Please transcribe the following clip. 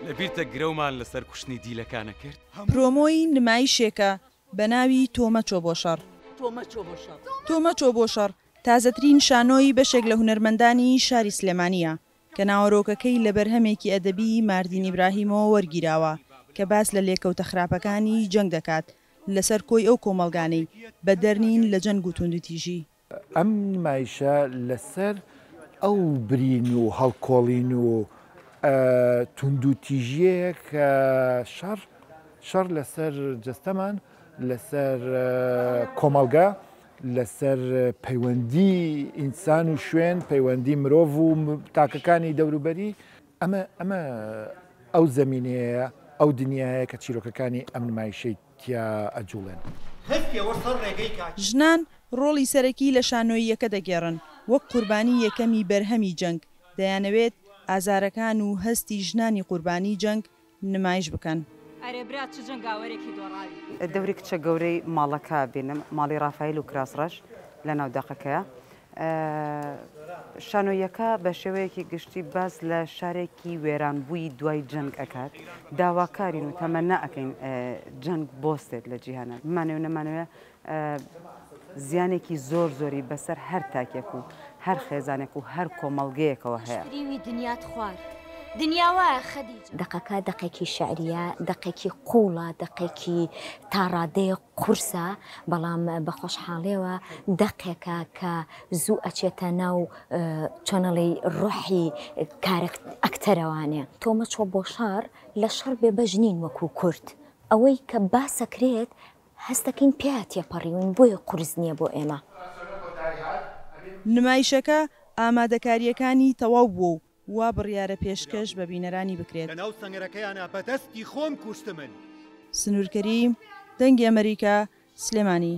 لەبیرتە گرەومان لەسەر کوشتنی دیلەکانە کرد؟ پرۆمۆی نمایشێکە بەناوی تۆ مەچۆ بۆ شەڕ. تۆ مەچۆ بۆ شەڕ تازەترین شانۆی بەشێک لە هونەرمەندانی شاری سلێمانییە کە ناوەرۆکەکەی لە بەرهەمێکی ئەدەبیی ماردین ئیبراهیمەوە وەرگیراوە کە باس لە لێکەوتە خراپەکانی جەنگ دەکات لەسەر کۆی ئەو کۆمەڵگانەی بەدەرنین لە جەنگ و توندوتیژی ئەم نمایشە لەسەر ئەو برین و هەڵکۆڵین و توندوتیژیەیە کە شەڕ شەڕ لەسەر جەستەمان لەسەر کۆمەڵگە لەسەر پەیوەندی ئینسان و شوێن پەیوەندی مرۆڤ و تاکەکانی دەوروبەری ئەمە ئەمە ئەو زمینەیە ئەو دنیاە کە چیرۆکەکانی ئەم نمایشەی تیا ئەجوڵێن. هەر ئێوە سەر ڕێگەی کاکی. ژنان ڕۆڵی سەرەکی لە شانۆییەکە دەگێڕن، وەک قوربانی یەکەمی بەرهەمی جەنگ، دەیانەوێت ئازارەکان و هەستی ژنانی قوربانی جەنگ نمایش بکەن. ئەرێ برا چ جەنگاوەرێکی دۆڕاوی. دەوری کچە گەورەی ماڵەکە بینم ماڵی ڕافایل و کراس ڕەش لەناو دەقەکەیە شانۆییەکە بە شێوەیەکی گشتی باس لە شارێکی وێرانبووی دوای جەنگ ئەکات داواکارین و تەمەنا ئەەکەین جەنگ بۆستێت لە جیهانە بمانێ و نەمانەوە زیانێکی زۆر زۆری بەسەر هەر تاکێک و هەر خێزانێک و هەر کۆمەڵگەیەکەوە هەیە دنیات خوارد. دنیاوە خەدیجە. دەقەکە دەقێکی شعریە دەقێکی قوڵە دەقێکی تاڕادەیە. قورسە بەڵام بەخۆشحاڵیەوە دەقێکە کە زوو ئەچێتە ناو چۆنەڵی ڕۆحی کارەک ئەکتەرەوانێ. تۆ مەچۆ بۆ شەڕ لە شەڕ بێ بەش نین وەکو کورد ئەوەی کە باسەکرێت هەستەکەین پێیا تێپەڕیوین بۆیە قورس نیە بۆ ئێمە. نمایشەکە ئامادەکارییەکانی تەواو بووە و وا بڕیارە پێشکەش بە بینەرانی بکرێت. لەناو سەنگەرەکەیانا بە دەستی خۆم کوشتمن. سنوورکەری دەنگی ئەمەریکا، سلێمانی.